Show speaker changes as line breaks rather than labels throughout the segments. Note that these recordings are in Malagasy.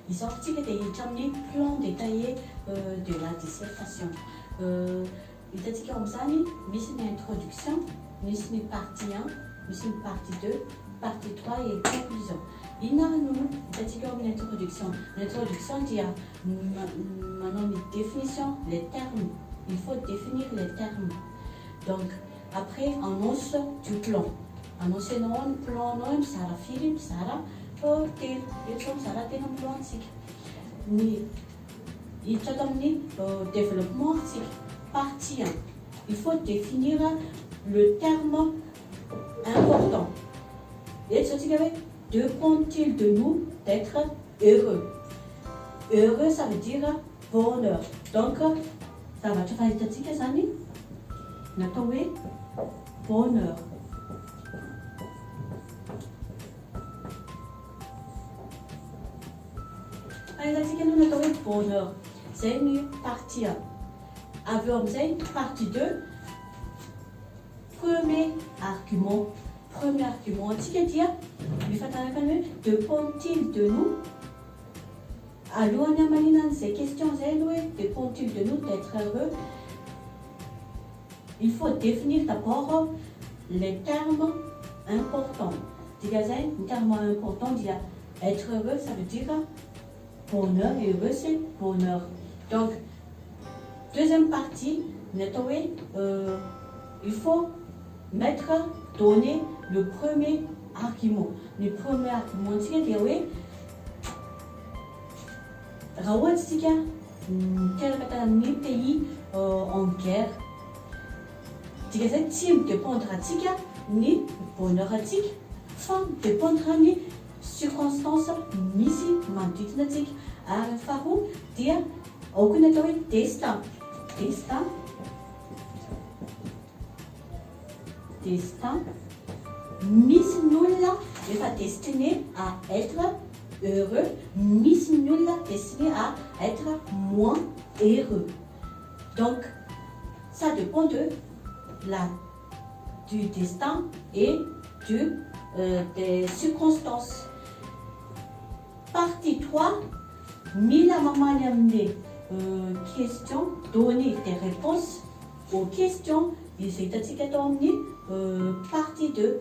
Izao isika dia hiditra amin'ny plan détaillé de la dissertation. Hitantsika ao amin'izany, misy ny introduction, misy ny partie 1, misy ny partie 2, partie 3 et conclusion. Inona ary no hitantsika ao amin'ny introduction? Ny introduction dia manao ny définition les termes il faut définir les termes donc après annonce du plan annoncenao ny plan nao mizara firy mizara telo eto zao mizara telo ny plan tsika ny hiditra ato amin'ny développement tsika partie un il faut définir le terme important eto zao tsika hoe de compte-t-il de nous d'etre heureux? heureux ça veut dire bonheur donc zavatra fahitantsika zany natao hoe bonheur. Fahitantsika aloha ny atao hoe bonheur zay ny partie a. Avy eo amin'izay partie deux. Premier argument, premier argument antsika dia mifanaraka ny hoe de pont-il de nous? Alohan'ny hamaliana an'izay question izay aloha hoe de pont-il de nous d'etre heureux? Il faut definir d'abord les termes importants, dikan'izay ny terme important dia etre heureux ça veut dire Bonheur et heureux c'est bonheur donc deuxième partie ny atao hoe il faut mettre, donner le premier argument ny premier argument ntsika dia hoe raha ohatra isika miteraka tany amin'ny pays en guerre dika izay tsy mi dependre antsika ny bonheur antsika fa mi dependre ny circonstances misy manodidina antsika ary ny faharoa dia aoka ny atao hoe destin, destin, destin, misy ny olona efa destiné à être heureux, misy ny olona destiné à être moins heureux donc ça depend de la. du destin et du des circonstances partie trois mila mamaly amin'ny question donner des réponses aux questions izay hitantsika tao amin'ny partie deux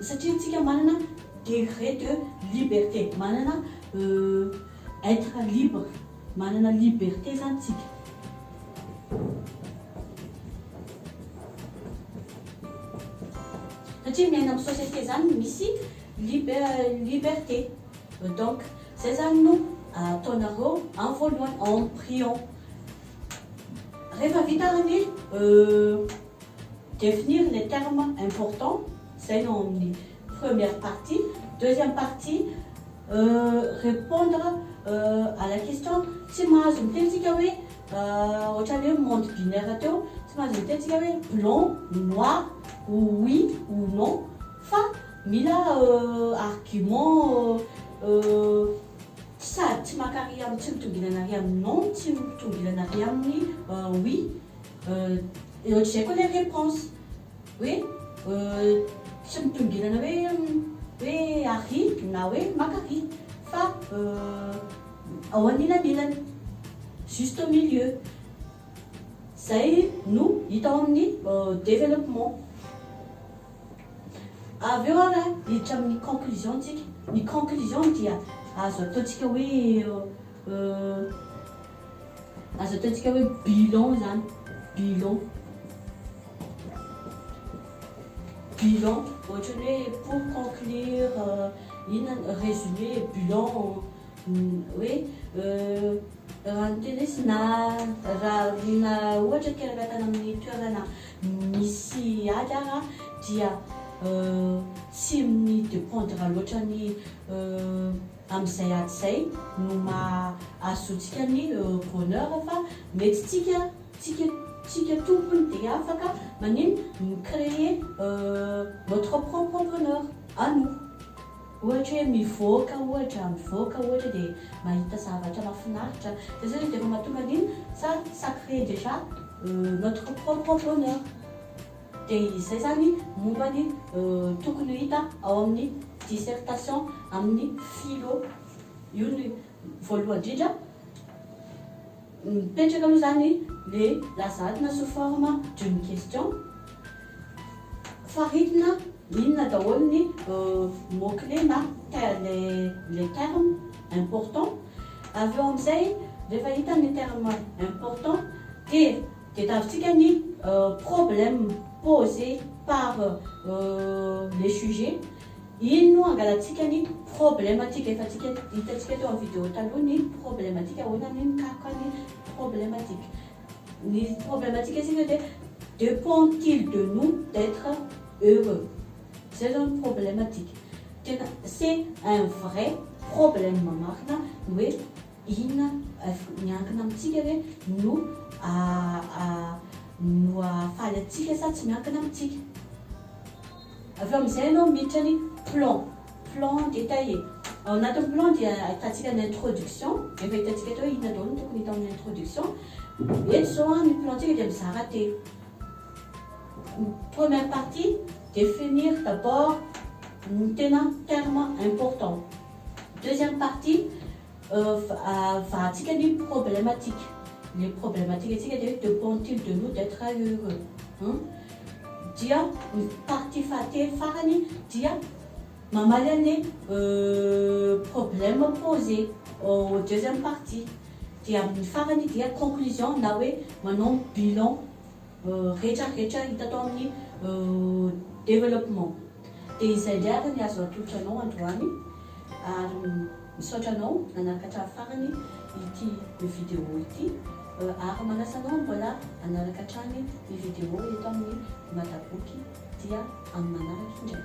Satria tsika manana degré de liberté, manana être libre, manana liberté zany tsika. Satria miaina am société zany misy liberté. Donc zay zany no ataonareo am voalohany en priant. Rehefa vita ny. Définir les termes importants, izay no ao amin'ny première partie. Deuxième partie, répondre à la question, tsy mahazo miteny tsika hoe, ohatrany hoe monde binaire teo, tsy mahazo miteny tsika hoe blanc ou noir, ou oui ou non, fa mila argument sady tsy maka ary amin'ny tsy mitombinana ary amin'ny non, tsy mitombinana ary amin'ny oui, Euh ohatr'izay koa le réponse hoe euh tsy mitongilana hoe hoe arỳ na hoe maka arỳ fa euh ao anilanilany, juste au milieu. Izay no hita ao amin'ny développement. Avy eo ary hiditra amin'ny conclusion tsika. Ny conclusion dia azo ataontsika hoe euh. Aza ataontsika hoe bilan zany, bilan. Bilan, ohatra ny hoe pour conclure, inona, résumé, bilan, hoe raha ny teny hoe na raha ohatra ka miankina amin'ny toerana misy ady ara dia tsy mi dependre loatra ny Amin'izay ady izay no maha azontsika ny heureux bonheur fa mety tsika tsika tsika tompony dia afaka manino mi-creer notre propre bonheur à nous. Ohatra hoe mivoaka ohatra, mivoaka ohatra dia mahita zavatra mafinaritra, zay zao izy dia efa mahatonga an'iny sa ça cree dejà notre propre bonheur. Dia izay izany momba ny tokony ho hita ao amin'ny dissertation amin'ny philo. Io ny voalohany indrindra. Mipetraka aloha izany le lazadina sous forme d'une question. Faritina inona daholo ny mot clé na les termes importants. Avy eo amin'izay rehefa hita ny termes importants dia. Dia tavintsika ny problème posé par le sujet, iny no angalantsika ny problematika, efa tsika hitantsika teo amin'ny vidéo taloha ny problematika, ahoana ny mikaroka ny problematika. Ny problematika isika dia depend-t-il de nous d'être heureux? Izay izao ny problematika. Tena c'est un vrai problème marina ny hoe. Inona avy miankina amintsika hoe no hahafaly antsika sa tsy miankina amintsika. Avy eo amin'izay ianao miditra ny plan. Plan détaillé. Ao anatin'ny plan dia ahitantsika ny introduction. Efa hitantsika teo hoe inona daholo no tokony hita ao amin'ny introduction. Eto izao ny plan-tsika dia mizara telo. Ny première partie, définir d'abord ny tena termes importants. Deuxième partie, Vahatsika ny problematika. Ilay problematikatsika dia hoe depend-t-il de nous d'etre heureux? Hum? Dia ny partie fahatelo farany dia mamaly an'ilay problème posé au deuxième partie. Dia amin'ny farany dia conclusion na hoe manao ny bilan rehetrarehetra hita tao amin'ny développement. Dia izay indray ary ny azo atolotra anao androany ary. Misaotra anao nanaraka hatramin'ny farany ity video ity ary manasa anao mbola hanaraka hatrany ny video eto amin'ny Madaboky dia amin'ny manaraka indray.